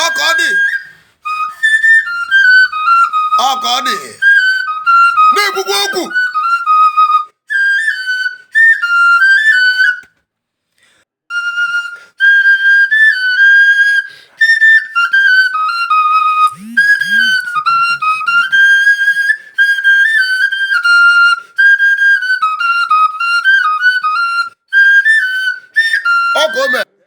ọka ọ dị ọka ọ dị na-ekwukwa okwu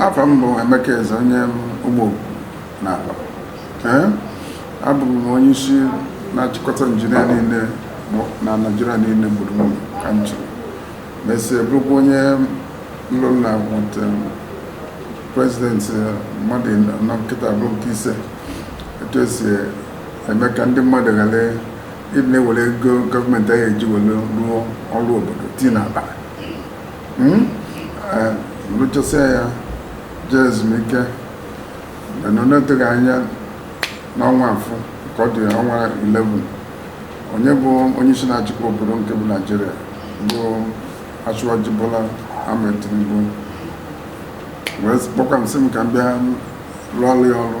afa m bụ Emeka Eze onye ugbo n'ala abụ m onye isi na-achịkọta injinia niile na Naịjirịa niile gburugburu ka m chịrị mesịa bụrụkwa onye ndụmọdụ prezidenti mmadụ anọ nke taa bụrụ nke ise etu esi eme ka ndị mmadụ ghara ịdị na-ewere ego gọọmenti a ya-eji were rụọ ọrụ obodo tii n'akpa Hmm? Eh, rụchasịa ya jee ezumike mana n'oteghị anya n'ọnwa afọ ka ọ dị ọnwa 11 onye bụ onye isi na-achịkwa obodo nke bụ Naịjirịa bụ Asiwaju Bola Ahmed Tinubu wee kpọkwa m sị m ka m bịa rụọrọ ya ọrụ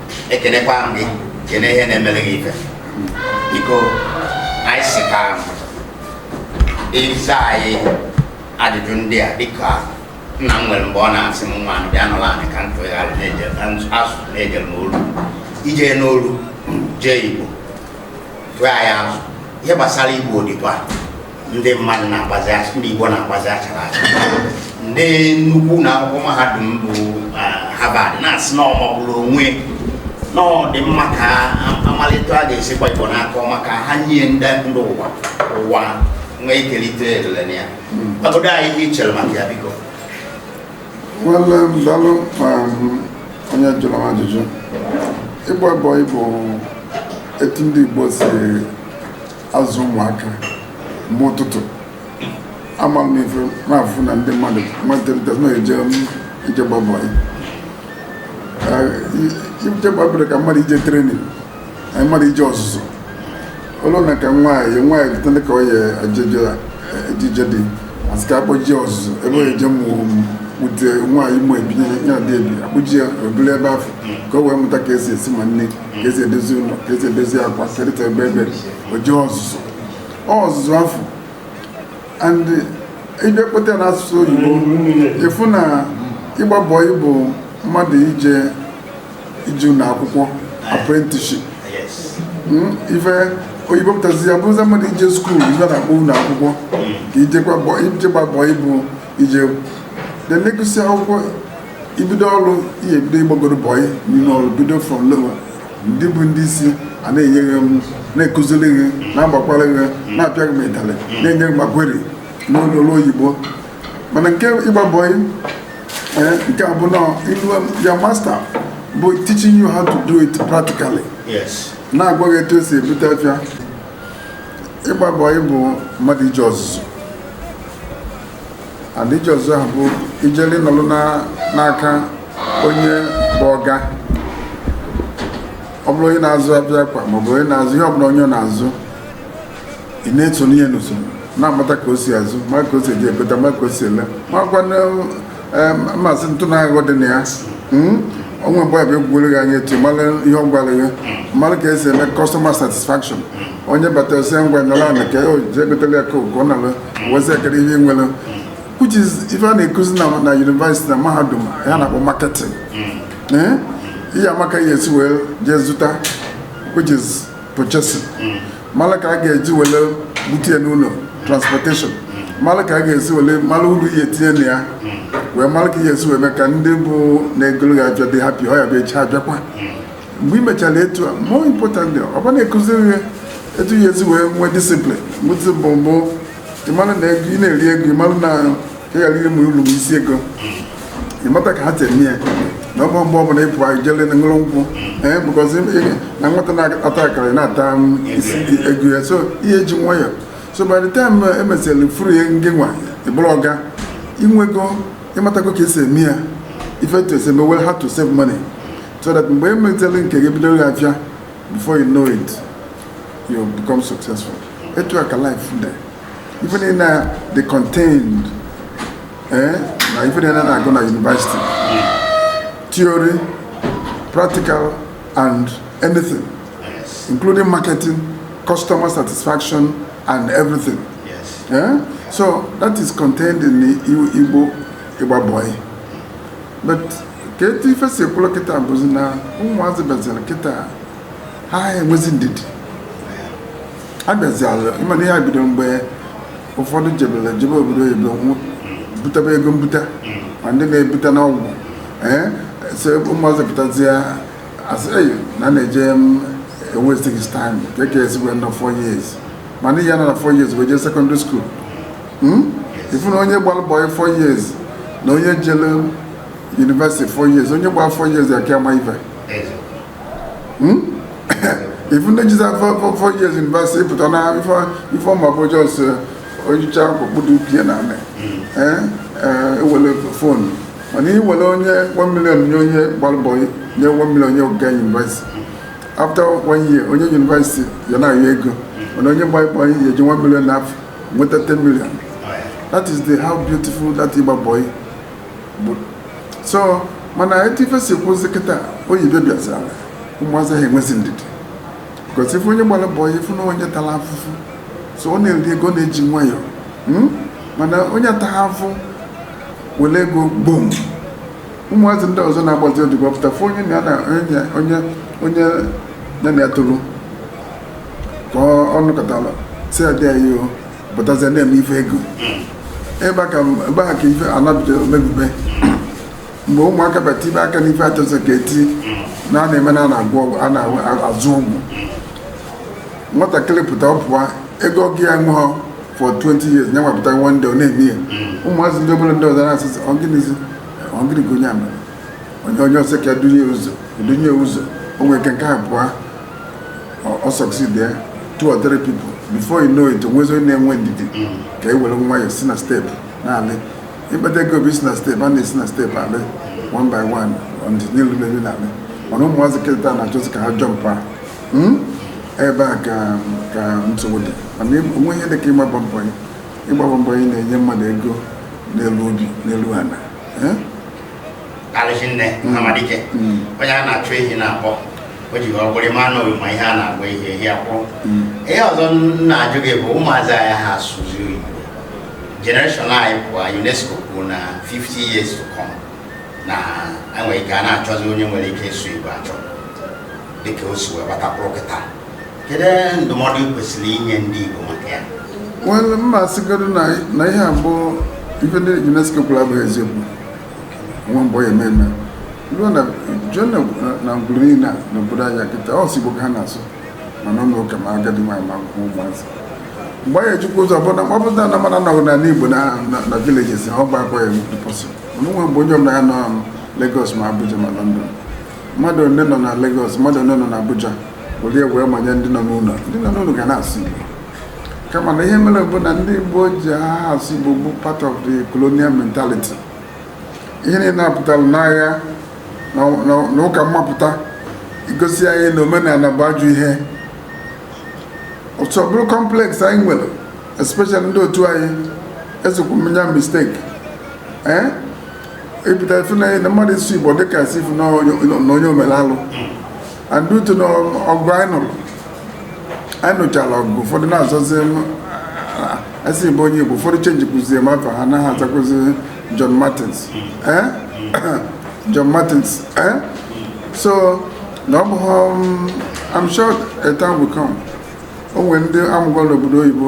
ekenekwa m gị kene ihe na-emere gị ife biko anyị sị ka ị zaa anyị ajụjụ ndị a dịka nna m nwere mgbe ọ na-asị m nwa bịa nụrụ anyị ka ntụgharị asụsụ na-ejere m olu ije n'olu jee igbo tụọ anyị azụ ihe gbasara ịgba odibo ndị mmadụ na-agbazi acha- ndị Igbo na-agbazi achara acha ndị nnukwu ụnọ akwụkwọ mahadum bụ ah, Harvard na-asị na ọ magburu onwe na ọ dị mma ka a- amalite a ga-esikwa Igbo n'aka ọma ka ha nye ndị ndị ụwa ụwa nwee ike ilite elele na ya gwagodu anyị ihe i chere maka ya biko nwanne m dalụ um, onye jụrụ m ajụjụ ịgba bọị bụ etu ndị Igbo si azụ ụmụaka mgbe ụtụtụ ama m ife na-afụ na ndị mmadụ matịrịta na-eje ịgba bọị ije ịgba bọị dị ka mmadụ ije trenin na mmadụ ije ọzụzụ olu na ka nwaanyị nwaanyị pụtara ka ọ ya-eje ije di a sị ka a kpọje ya ọzụzụ ebe ọ eje mụọ etu nwaanyị mụ ebi be di ebi a kpọje ya obere ebe afụ ka o wee mụta ka esi esi ma nni ka esi edozi ụlọ ka esi edozi akwa kerịta ebe ebe o jee ọzụzụ ọzụzụ afọ and ị bịa kpọta ya n'asụsụ oyibo ị fụ na ịgba bọyị bụ mmadụ ije ije ụlọ akwụkwọ apprenticeship Hmm, ife oyibo pụtazi ya bụrụzia mmadụ ije skuul ife a na-akpọ ụlọ akwụkwọ ka ije gba bọyị ije gba bọyị bụ ije then ị gụsịa akwụkwọ i bido ọrụ ị ya-ebido ịgbagodu bọyị n'ime ọrụ bido from lower ndị bụ ndị isi a na-enye gị na-akụziri gị na-agbakwara gị na-apịa gị ịtalị na-enye gị ma query n'ụlọ ọrụ oyibo mana nke ịgba bọyị eh, nke a bụ na your master bụ teaching you how to do it practically na-agwa gị etu esi ebute afịa ịgba bọyị bụ mmadụ ije ọzụzụ and ije ọzụzụ ahụ bụ ijeli nọlụ na- n'aka onye bụ ọga ọ bụrụ onye na-azụ afịa akwa maọbụ onye na-azụ ihe ọbụla onye ọ na-azụ ị na-eso ya n'usoro na-amata ka o si azụ ma ka o si eji egote ma ka o si ele makwa na em, ma asị ntụ na aghụghọ dị na ya Mm? o nwee mgbe ọ bịa egwugwere gị anya etu a ị mara ihe ọ gwara gị mara ka esi eme customer satisfaction onye bata ọ sị ya ngwa nọrọ ala ka o jee gotele ya Coke ọ nalụ wezi ekere ihe i nwere which is ife a na-akụzi na na university na mahadum ha na-akpọ marketing Eh? ị ya-ama ka ị ya-esi wee jee zụta which is purchasing mara ka ị ga-eji were bute ya n'ụlọ transportation mara ka ị ga-esi were mara uru ị ya-etinye na ya wee mara ka ị ya-esi wee mee ka ndị bụ na-egoro gị afịa dị happy ọ ya-abụ echi ha abịakwa mgbe i mechara etu a more importantly ọ bụrụ na a kụziri gị etu ị ya-esi wee nwee discipline mgbe discipline bụ ịmara na ego ị na-eri ego ịmara na ị ghara iri ma uru ma isi ego ịmata ka ha si eme ya na ọ bụrọ mgbe ọbụla ịpụ anyị jele na ṅụrụ nkwụ ee bụkọzi ị- na nwata na-ata akara ị na-ata ma isi ego ya so ị ya-eji nwayọ so by the time e mesịrị free ya ngị nwa ị bụrụ ọga i nwego ị matago ka esi eme ya ife etu esi eme well how to save money so that mgbe emetela nke gị bidoro ya afịa before you know it you become successful etu a ka life dị ife niile a dị contained eh, na ife niile a na-agụ na university theory practical and anything Yes. including marketing customer satisfaction and everything Yes. Eh? so that is contained in the ịgba ịgba bọyị but ka etu ife si kwụlụ kịta bụzi na ụmụazị bịaziri kịta ha enwezi ndidi ha bịaziala ị ma na ihe a bido mgbe ụfọdụ jebere jebe obodo oyibo nwụ- butabe ego mbuta ma ndị na-ebute n'ọgwụ ee so ụmụazị pụtazie asị eyi na na-eje wasting his time ka e ka esigwe na 4 years mana ihe a na 4 years wee jee secondary school Hmm? ị fụ na onye gbara bọyị 4 years na onye jele yunivesiti 4 years onye gbara 4 years ya-aka ama ife hmm? ị fụ ndị jiza 4 years yunivesiti pụta na ife ọ ma bụ just eh, onyecha okpukpudu pie na anị ewele hmm. eh, eh, fonu mana i were onye 1 million nye onye gbara bọyị nye 1 million onye oga yunivesiti after 1 year onye yunivesiti ya na-ayọ ego mana onye gbara bọyị ya-eji 1 million n'afọ nweta 10 million that is the how beautiful that ịgba boy bụ so mana etu ife si kwụzi kịta oyibo bịazara ụmụazị ha enwezi ndidi because ị fụ onye gbara bọyị ị fụ na onye tara afụfụ so ọ na-eri ego na-eji nwayọọ hmm? mana onye ataghị afụfụ were ego gbom ụmụazị ndị ọzọ na-agbazi odibo pụta fụ onye na ya na onye onye ya na ya toro ka ọ nọkatara si adị anyị ọ pụtazie na-eme ife ego ebe a ka ebe a ka ife a na-ebido mebibe mgbe ụmụaka bịa tibe aka n'ife achọzọ ka etu na a na-eme na a na-agwọ ọgwụ a na-azụ ọgwụ nwatakịrị pụta ọ pụwa ego ọgụ ya ṅụọ for 20 years nye nwapụta one day ọ na-eme ya ụmụazị ndị obere ndị ọzọ na-asịzi ọ gịnịzi ọ gịnị ka onye a mere onye onye ọsọ ka dunye ụzọ dunye ụzọ o nwere ike nke a pụọ ọ succeed ya two or three people before you know it o nwezi onye na-enwe ndidi ka e were nwayọọ si na step na-alị ịkpata ego bụ isi na step a na-esi na step alị one by one ọ dị n'elu na-arị na-alị mana ụmụazị kịta na-achọzi ka ha jọmpa hmm? ebe a ka ka nsogbu dị mana o nwe ihe dị ka ịgbaba mbọ ya ịgbaba mbọ ya na-enye mmadụ ego n'elu obi n'elu ana eh? karịsị nne amadike onye a na-achụ ehi na-akpọ o ji ọgwụ eri ma na ma ihe a na-agwa ehi ehi akwụ ihe ọzọ m na-ajụ gị bụ ụmụazị anyị ha asụzi oyibo generation anyị pụọ unesco kwuru na 50 years to come na e nwere ike a na-achọzi onye nwere ike ịsụ igbo achọ dịka o si wee gbata kwụrụ kịta kedu ndụmọdụ ị kwesịrị inye ndị igbo maka ya well ma a sịgodu na na ihe a bụ ife ndị unesco kwuru abụghị eziokwu nwa mbọ ya ememe ruo na jụọ na na ngwuru niile a n'obodo anyị kịta ọ sọ Igbo ka ha na-asụ ma n'ụlọ ụka ma agadi nwaanyị ma akwụkwọ ụmụazị mgbe anyị ejikwa ụzọ ọbụla ma ọ bụrụ na na mmadụ anọghị n'ala igbo na na- na villages ha ọ bụ akwa ya nwere pọsị mana o nwe mgbe onye ọbụla ya nọ Lagos ma Abuja ma London mmadụ ole nọ na Lagos mmadụ ole nọ na Abuja were ya wee manye ndị nọ n'ụlọ ndị nọ n'ụlọ ga na-asụ Igbo kama na ihe mere bụ na ndị Igbo ji aha asụ Igbo bụ part of the colonial mentality ihe niile na-apụtara n'agha na ụka mmapụta igosi anyị na omenala bụ ajọ ihe so ọ bụrụ complex anyị nwere especially ndị otu anyị ezekwu mmenya mistake ee eh? ị pụta ị fụ na mmadụ ịsụ Igbo dịka a sị ị fụ na onye ọ mere alụ and due to na ọgụ anyị nụrụ anyị nụchara ọgụ ụfọdụ na-azọzi asị bụ onye igbo ụfọdụ chenjikwuzie ma afa ha na-azakwuzi john martins eh? john martins eh? so na ọ bụghị um, i'm sure a time will come o nwere ndị a mụgoro n'obodo oyibo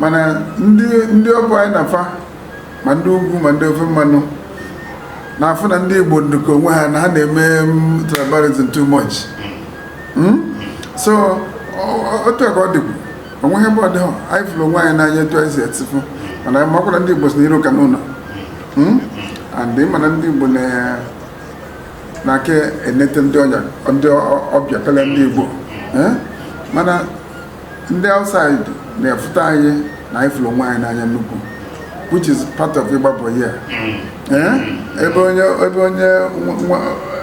mana ndị ndị ọ bụ anyị na fa ma ndị ugwu ma ndị ofe mmanụ na-afụ na ndị Igbo ndụka onwe ha na ha na-eme mm, tribalism too much hmm? so otu a ka ọ dịkwu o nweghị ebe ọ dịghọ anyị fụrụ onwe anyị n'anya etu anyị si etifụ mana anyị makwara ndị Igbo sị na iro ka n'ụlọ hmm? and mana ndị Igbo na na-aka enete ndị ọbịa karịa ndị Igbo eh? mana ndị outside na-afụta anyị na anyị fụrụ onwe anyị n'anya nnukwu which is part of ịgba bọị Eh? ebe onye ebe onye nwe- nwe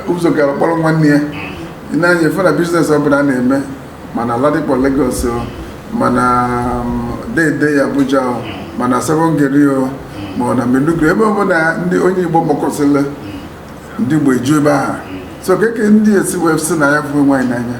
ụzọ ga-akpọrọ nwanne ya na anyị afụ na biznes ọbụla a na-eme ma na Ladipo Lagos o ma na um, Dei-Dei Abuja o ma na Sabon Gari o ma na Maiduguri ebe ọbụla ndị onye Igbo gbakọsịrị ndị Igbo eju ebe ahụ so keke ndị a si wee sị na anyị fụrụ onwe anyị n'anya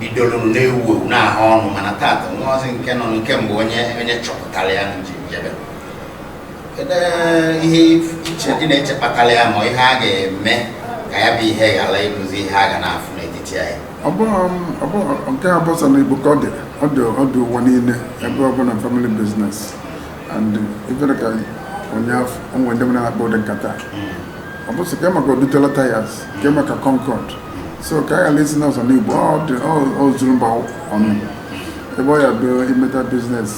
bidoro na-ewu ewu na-ahụ ọnụ mana taata nwa ọ bụzi nke nọ nke mbụ onye onye chọpụtara ya na njem jebe kedu eh, ihe ị che- ị na-eche kpatara ya ma ihe a ga-eme ka ya bụ ihe ghara ịbụzi ihe a ga na-afụ n'etiti anyị ọ bụghị ọ bụghị nke a bụ sọ n'Igbo ka ọ dị ọ dị ọ dị ụwa niile ebe ọ bụla family business and ife dị ka ụnyaahụ o nwe ndị m na-akpa ụdị nkata ọ bụ sị kee maka Odutola tires kee maka concord so ka a ghara ịsị na ọ sọ n'Igbo ọ zuru mba ọnụ ebe ọ ya bụ imeta business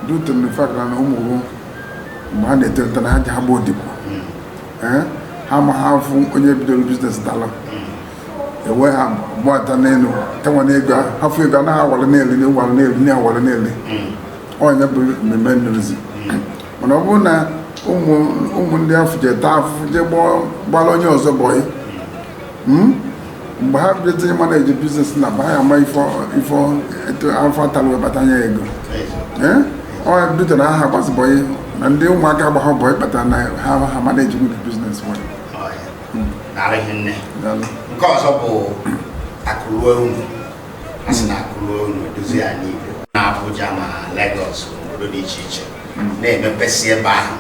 due to the fact na ụmụ gị mgbe ha na-eto eto na ha ejeha gba odibo ha amaha afụ onye bidoro business tala ewe ha gbata n'elu tawa n'ego afụ ego anaghị awara n'elu na ịwara n'elu onye bụ mmemme nrizi mana ọ bụrụ na ụmụ ndị afụ je taa afụfụ je gbara onye ọzọ bọyị hmm? mgbe ha bịazi ịmanage business na ba ya ama ife afụ a talụ wee kpata nya ego eh? o dute na aha agbazi bọyị na ndị ụmụaka agbahọ bọyị kpata na ha aha manage good business well hmm. nke ọzọ bụ akụ ruo ụnọ a sị na akụ ruo ụnọ adịziha n'Igbo na Abuja ma Lagos obodo dị iche iche na-emepesi ebe ahụ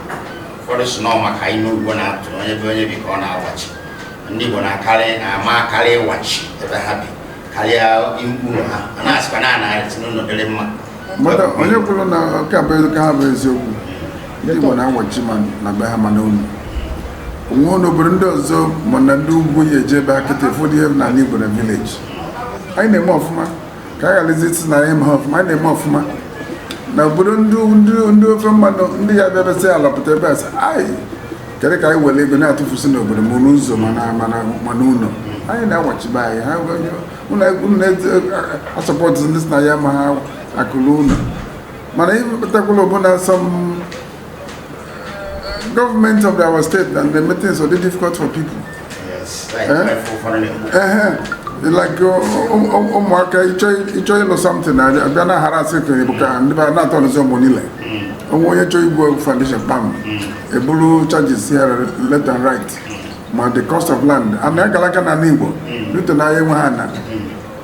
ụfọdụ sị na ọ maka inu Igbo na-atụ na ebe onye bi ka ọ na-awachi ndị Igbo na-akarị na-amakarị ịwachi ebe ha bi karịa ụlọ ha a na-asịkwa na a na-esite n'ụlọ dịrị mma mmadụ onye kwuru nke a bụ eziokwu ndị Igbo na-awachi ma na be ha ma n'ụlọ o nwe n'obodo ndị ọzọ ma na ndị ugwu ị jee be anyị kịta ụfọdụ ihe n'ala Igbo na village anyị na-eme ọfụma ka a gharazi ịsị na anyị emeha ọfụma anyị na-eme ọfụma na obodo ndị ofe mmanụ ndị ya bịa besị ala pụta ebe a sị anyị kedu ka anyị were ego na-atụfusi n'obodo ma n'ụzọ ma n'ụlọ anyị na-awachi be anyị aha m asupport ndị sị na anyị amaha akụ ruo ụlọ mana ịpụtakwala ọ bụ na some Government of our state na-eme things adị difficult for people. Yes, like eh? uh-huh. like ụmụaka ịchọ ịlụ something a bịa na-harass gị bụ ka ndị bara na-atọ ọnụzi ọgbọ niile o nwee onye chọọ igwu foundation pam eburu charges ya left and right ma the cost of land ana agala aka n'ala Igbo dute na anyị enweha ana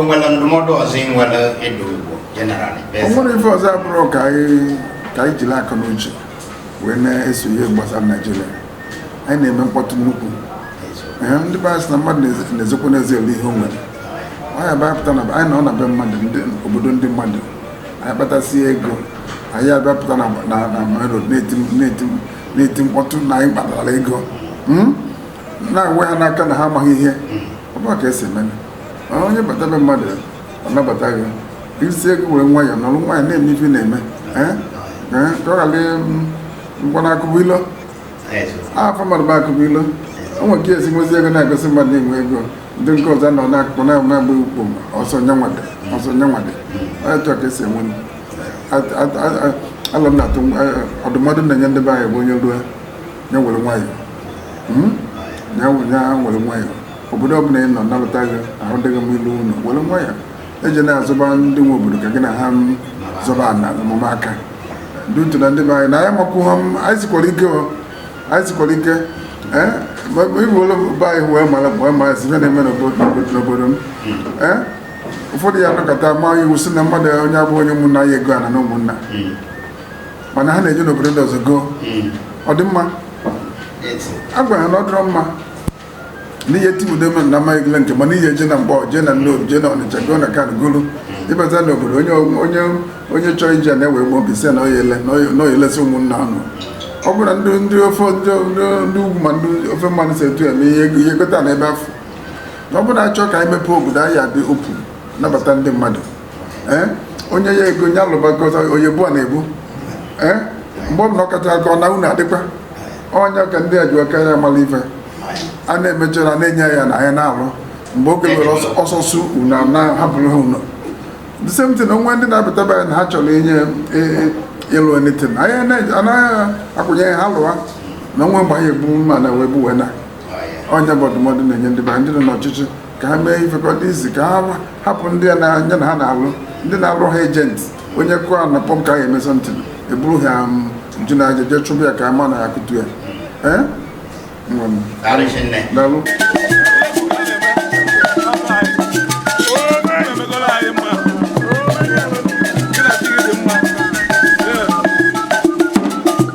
onwere ndụmọdụ ọzọ ị nwere ịdụ Igbo generally onwere ife ọzọ abụrụ ka anyị jiri akọ na uche wee na-eso ihe gbasara Nigeria anyị na-eme mkpọtụ nnukwu ndị be anyị sị na mmadụ na-ezokwa n'ezi elie ihe o nwere anyị abịapụta na anyị nọ na be mmadụ obodo ndị mmadụ anyị kpatasie ego anyị abịapụta na main road na-eti mkpọtụ na anyị kpatara ego hmm? na-enwe ha n'aka na ha amaghị ihe ọ bụha ka esi eme onye bata be mmadụ ọ nabata gị isi ego were nwayọọ nọrọ nwayọọ na-eme ife na-eme ka ọ ghara maka na akụ bụ ilo afa mmadụ bụ Akụbụilo o nwere ka esi nwezi ego na-egosi mmadụ na-enwe ego ndị nke ọzọ nọ n'akụkụ na-enwe agba ukpo ọsọ nyanwade ọsọ nyanwade onye chọọ ka esi enwe alo m na-atụ ọdụmọdụ m na-enye ndị be anyị bụ onye ruo ya were nwayọọ hmm? ya were nwayọọ obodo ọbụla ị nọ nalụta gị ahụ dịghị m ịlụ ụlọ were nwayọọ ejena zọba ndị nwe obodo ka gị na ha zọba ana omume aka ndị utu na ndị be anyị na anyị makwụ ha anyị sikwara ike anyị sikwara ike ee eh? ibu ụlọ be anyị wee mara wee mara si na-eme n'obodo m ee eh? ụfọdụ ya anọkọta maa iwu sị na mmadụ onye abụ onye ụmụnna ya egona ana na ụmụnna mana ha na-eje n'obodo ndị ọzọ goo hmm. ọ dị mma a gwara ha na ọ dịrọ mma n'ihe timudeme na amaghị gịle nke mana ị ye je na mgbọ jee na Nnobi jee na Ọnịcha goo ana kan golu hmm. ị bata n'obodo onye onye onye chọrọ ije na-ewe ụgbọ obi sị na ọ ye le na ọ ye lesi ụmụnna ọnụ ọ bụrụ na ndị ofe ndị ugwu ma ndị ofe mmanụ si etu eme ihe ị ye gota ana ebe afụ ọ bụrụ na a chọọ ka anyị mepee obodo anyị adị open nabata ndị mmadụ Eh? onye ya ego nye alụbakọta onye bụ a na-ebu eh? mgbe ọ bụla ọ kacha aka ọ na unu adịkwa onye ka ndị ajụ aka ya mara ife a na-emechara na-enye ya na anyị na-alụ mgbe oge were ọsọsọ unu na-ahapụrụ ha ụnọ the same thing o nwe ndị na-abịataba ya na ha chọrọ inye e, e, ịlụ anything anyị anaghị akwụnye ha alụwa na o nwe mgbe anyị ebu mma na wee gbuwe na onye bụ ọdụmọdụ na-enye ndị be ndị nọ n'ọchịchị ka ha mee ifekọ n'izi ka ha hapụ ndị a na-anya na ha na-alụ ndị na-alụ ha agent onye kụọ na pọm ka ha eme something eburu ha nju na aja jee chụbụ ya ka ama na ya kụtu ya ee daalụ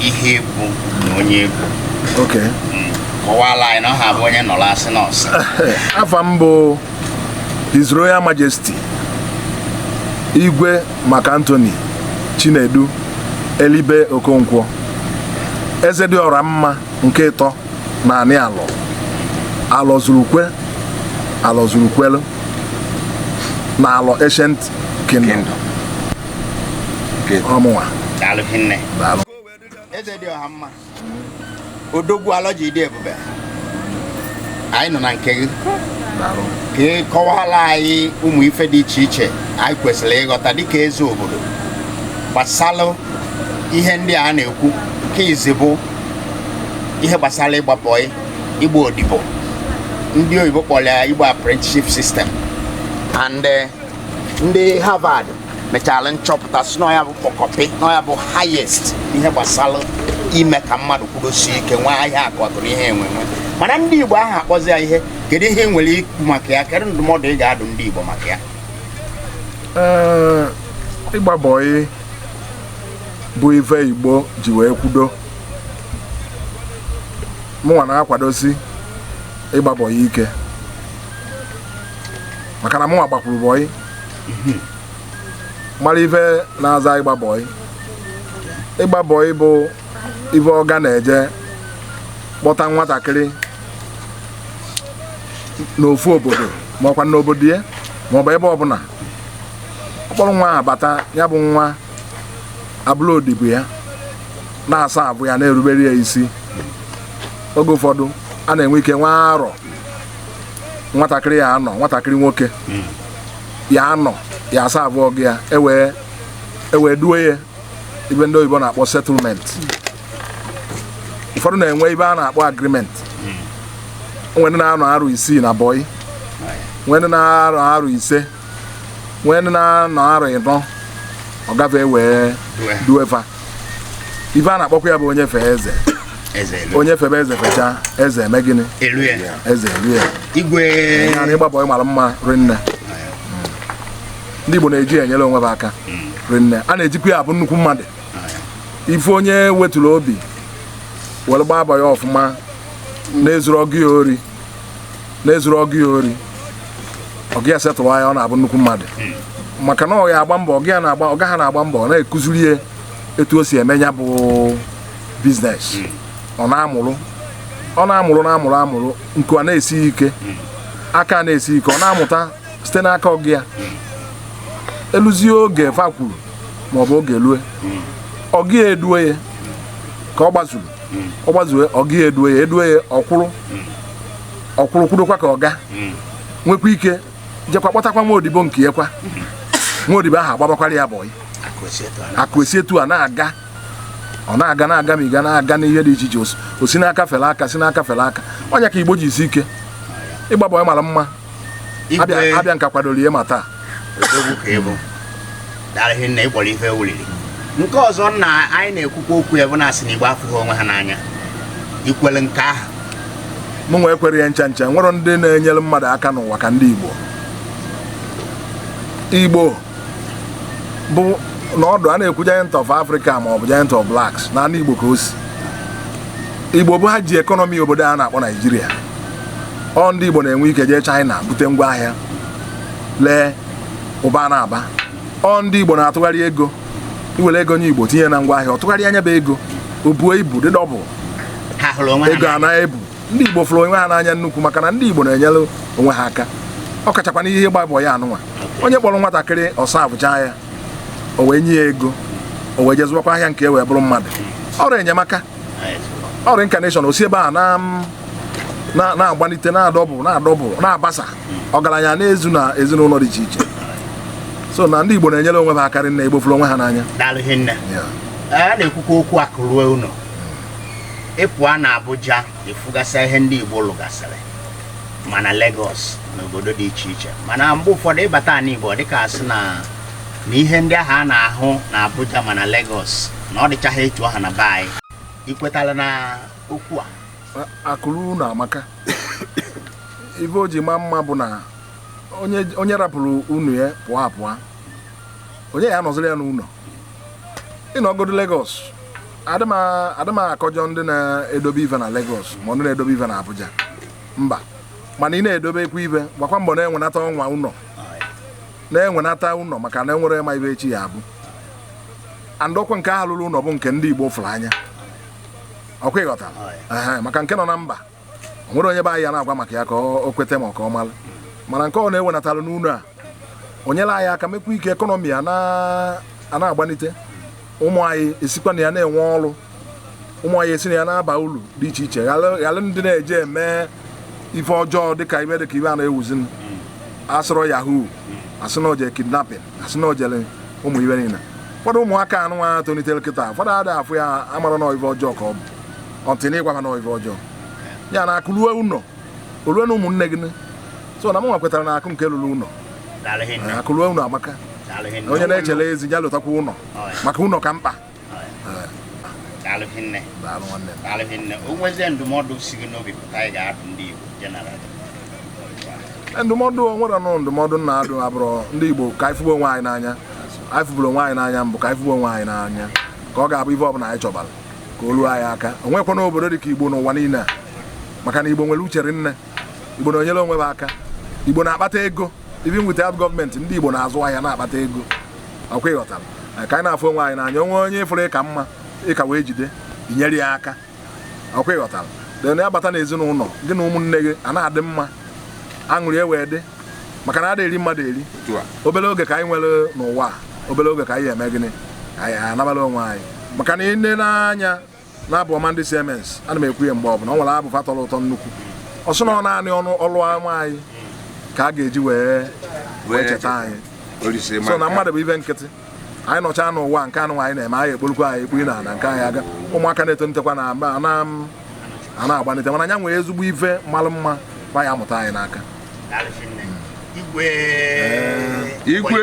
ihe ị bụ na onye ị bụ okay kọwala anyị na ọha abụ onye nọrọ asị nọọsụ afa m bụ His Royal Majesty Igwe Mac Anthony Chinedu Elibe Okonkwo eze dị ọra mma nke ịtọ na anị Alọ Alọ zurukwe Alọ zurukwelu na Alọ Ancient Kingdom ọ mụnwa eze dị ọha mma odogwu Alọ ji dị ebube anyị nọ na nke gị ka ị kọwaala anyị ụmụ ife dị iche iche anyị kwesịrị ịghọta dịka eze obodo gbasalụ ihe ndị a na-ekwu nke izi bụ ihe gbasara ịgba bọị ịgba odibo ndị oyibo kpọrọ ya igbo apprenticeship system and eh, ndị Harvard mechara nchọpụta sị na ya bụ kpọkọpị na ya bụ highest ihe gbasara ime ka mmadụ kwudosie ike nwee ihe akụakụ na ihe enwenwe mana ndị Igbo aha akpọzi ya ihe kedu ihe i nwere ikwu maka ya kedu ndụmọdụ ị ga-adụ ndị Igbo maka ya eh, ịgba bọị bụ ife igbo ji wee kwudo mụnwa na-akwadosi ịgba bọyị ike maka na mụnwa gbakwuru bọyị mara ife na-aza ịgba bọyị ịgba bọyị bụ ife ọga na-eje kpọta nwatakịrị n'ofu obodo ma ọkwa n'obodo ya ma ọ bụ ebe ọbụla ọ kpọrọ nwa ahụ bata ya bụ nwa abụrụ odibo ya na-aserve ya na-erubere ya isi oge ụfọdụ a na-enwe ike nwee arọ nwatakịrị ya-anọ nwatakịrị nwoke ya-anọ ya-aserve ọga ya e wee duo ya ife ndị oyibo na-akpọ settlement ụfọdụ na-enwe ife a na-akpọ agreement nwee ndị na-anọ arọ isii na bọyị nwee ndị na-anọ arọ ise nwee ndị na-anọ arọ ịnọ ọ gafee e wee due fa ife a na-akpọkwa ya bụ onye fee eze onye febe eze fecha eze eme gịnị eze elue ya igwe ịgba bọyị mara mma rinne ndị Igbo na-eji enyere onwe ha aka hmm. rinne a na-ejikwa ya abụ nnukwu mmadụ ife onye wetụrụ obi were gbaa bọyị ọfụma na-ezuru ọga ya ori na-ezuru ọga ya ori ọga ya settle ya ọ na-abụ nnukwu mmadụ maka na ọ ya-agba mbọ ọga ha na-agba mbọ ọ na-ekuziri ya etu o si eme ya bụ biznes ọ na-amụrụ ọ na-amụrụ na-amụrụ amụrụ nke a na-esighị ike aka a na-esighị ike ọ na-amụta site n'aka ọga ya eluzie oge fa kwuru maọbụ oge lue ọga ya edue ya ka ọ gbazuru ọ gbazue ọga ya edue ya edue ya ọ kwụrụ ọ kwụrụ kwudokwa ka ọga nwekwa ike jekwa kpọtakwa nwa odibo nke ya kwa nwa odibo ahụ agbabakwara ya bọyị akụ esi etu a na-aga ọ na-aga na-aga ma ị ga na-aga n'ihe dị iche iche o si n'aka fere aka si n'aka fere aka ọ nya ka igbo ji esi ike ịgba bọyị mara mma abịa abịa nka kwadoro ihe ma taa odogwu ka ị bụ dara ihe nna ịkpọrọ ife wuliri nke ọzọ na anyị na-ekwukwa okwu ya bụ na a sị na igbo afụghị onwe ha n'anya i kwere nke ahụ mụ nwa ekwere ya ncha ncha nwere ndị na-enyere mmadụ aka n'ụwa ka ndị igbo igbo bụ na ọdụ a na-ekwu giant of Africa ma ọ bụ giant of blacks na ana Igbo ka o si Igbo bụ ha ji ekọnọmi obodo a na-akpọ Naijiria ọ ndị Igbo na-enwe ike jee China bute ngwa ahịa lee ụba na-aba ọ ndị Igbo na-atụgharị ego i were ego nye Igbo tinye na ngwa ahịa ọ tụgharịa nya bụ ego o buo ibu dị dọbụl ego a na-ebu ndị Igbo fụrụ onwe ha n'anya nnukwu maka na ndị Igbo na-enyere onwe ha aka ọ kachakwa n'ihe ịgba bọị anụnwa onye kpọrọ nwatakịrị ọ servechaa ya o wee nye ya ego o wee jee zụwakwa ahịa nke e wee bụrụ mmadụ ọrụ enyemaka ọrụ incarnation o si ebe a na-agbalite na-adọbụl na-adọbụl na-abasa ọgaranya na-ezu na ezinụlọ dị iche iche so na ndị Igbo na-enyere onwe ha aka rinne Igbo fụrụ onwe ha n'anya a na-ekwukwa okwu akụ ruo ụlọ ị pụa na Abuja ị fụgasịa ihe ndị Igbo lụgasịrị ma na Lagos na obodo dị iche iche mana mgbe ụfọdụ ị bata na Igbo ọ dịka a sị na ihe ndị ahụ a na-ahụ na Abuja ma na Lagos na ọ dịchaghị etu ahụ na be anyị i kwetala na okwu a akụ ruo ụnọ amaka ife o ji maa mma bụ na onye rapụrụ ụnọ ya pụa apụa onye ga-anọziri ya n'ụlọ ị nọgodu Lagos adị m a- adị m akọjọ ndị na-edobe ive na Lagos ma ndị na-edobe ive na Abuja mba mana ị na-edobekwa ive gbakwa mbọ na-enwenata ọnwa ụlọ na-enwenata ụlọ maka na enwere ma ive echi ya-abụ and ọkwa nke ahụ lulu ụlọ bụ nke ndị Igbo fụrụ anya ọkwa ị ghọtara Ehe, maka nke nọ na mba o nwere onye be anyị ya na-agwa maka ya ka o kweta ma ka ọ mara mana nke ọ na-ewenatalụ n'ụlọ a o nyere anyị aka mekwa ka ekọnọmi a na-agbanite ụmụ anyị esikwa na ya na-enwe ọrụ ụmụ anyị esi na ya na-aba uru dị iche iche ghara ndị na-eje eme ife ọjọọ dịka ife dịka ife a na-ewuzi a sịrị yahoo a sị na o jere kidnapping a sị na o jere ụmụ ife niile ụfọdụ ụmụaka anụnwa tolitere kịta ụfọdụ ada afụ ya amara na ife ọjọọ ka ọ bụ until na ị gwa ha na ife ọjọọ ya na akụ ruo ụlọ o lue na ụmụnne gị so na m nwa kwetara na akụ nke lulu ụlọ akụ ruo ụlọ amaka onye na-echere ezi ya lotakwa ụlọ maka ụlọ ka mkpa daalụ hinne daalụ nwanne daalụ hinne o nwezie ndụmọdụ si gị n'obi pụta anyị ga-adụ ndị Igbo jeneral ndụmọdụ m nwere nụ ndụmọdụ m na-adụ agbụrụ ndị Igbo ka anyị fụgbu onwe anyị n'anya anyị fụburu onwe anyị n'anya mbụ ka anyị fụgbu onwe anyị n'anya ka ọ ga-abụ ife ọbụla anyị chọbara ka o luo anyị aka o nwekwanụ obodo dị ka igbo n'ụwa niile a maka na igbo nwere uche rinne igbo na-enyere onwe ha aka igbo na-akpata ego even without gọọmenti ndị igbo na-azụ ahịa na-akpata ego ọkwa ịghọtara Anyị ka anyị na-afụ onwe anyị n'anya o nwee onye ị fụrụ ị ka mma ị ka wee jide i nyere ya aka ọkwa ịghọtara then ya bata n'ezinụlọ gị na ụmụnne gị a na-adị mma aṅụrị e wee dị maka na a eri mmadụ eri Otu a. obere oge ka anyị nwere n'ụwa a, obere oge ka anyị eme gịnị ka anyị anabala onwe anyị maka na i nee anya n'abụ ọma ndị CMS a na m ekwu ya mgbe ọbụla ọ nwere abụ fa tọrọ ụtọ nnukwu ọ sị na ọ naanị ọnụ ọlụ ọma anyị ka a ga-eji wee wee cheta anyị so na mmadụ bụ ife nkịtị anyị nọcha n'ụwa nke anụ anyị na-eme anyị ekporukwa anyị ekpuri na ala nke anyị aga ụmụaka na-etonitekwa na mba a na-agbanite mana anyị nwere ezigbo ife malụ mma kwa ya amụta anyị n'aka igwe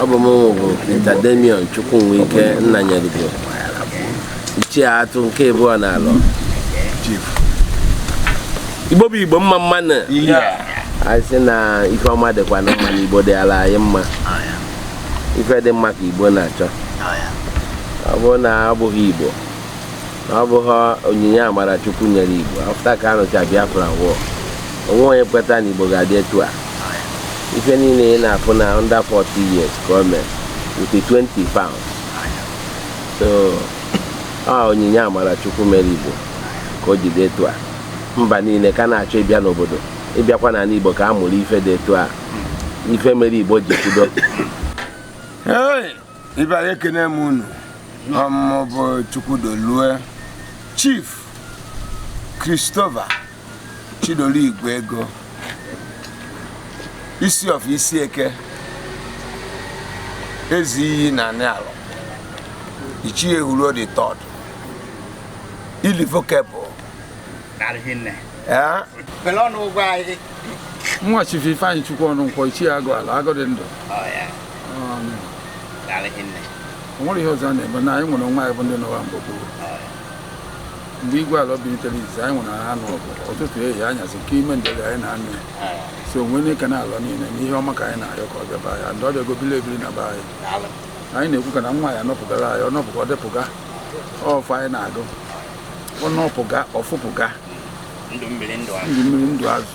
ọ bụ mụnwụ bụ Peter Damian Chukwunwike Nnanyerugo ichie atụ nke abụọ na alọ igbo bụ igbo mma mma nụ anyị sị na ife ọma dịkwanụ mma na igbo dịala anyị mma ife dị mma ka igbo na-achọ ọ bụrụ na abụghị igbo na ọ bụghị onyinye amara chukwu mere igbo afta ka a nụcha biafra war o nwe onye kweta na igbo ga-adị etu a ife niile ị na-afụ na under 40 years ka o mee with 20 pounds so a onyinye amara chukwu mere igbo ka o ji dị etu a mba niile ka na-achọ ịbịa n'obodo ịbịakwa n'ala igbo ka a mụrụ ife dị etu a ife mere igbo ji kwudo ibe anyị ekene m unu ọ mụmụ bụ chukwudolue chief christopher chidolu igwe ego isi of isi eke ezi iyi na anị ala ichie huru the third irrevocable nwa Chief Ifeanyịchukwu Ọnụnkwọ ichie agụ ala agụ dị ndụ o nwere ihe ọzọ a na-eme na anyị nwere onwe anyị bụ ndị nọwa mgbe gboo mgbe igwe ala bilitere izi anyị nwere ha n'ọgụ ụtụtụ ehihie anyasị nke ime ndeli anyị na-anụ ya so onwe n'ike na ala niile na ihe ọma ka anyị na-arịọ ka ọ bịaba ya ndị ọ bịago bili ebiri na be anyị anyị na-ekwu ka na nwa ya nọpụgara anyị ọ nọpụga ọ depụga ọfụ anyị na-agụ ọnụ ọpụga ọfụpụga ndụ mmiri ndụ azụ ndụ mmiri ndụ azụ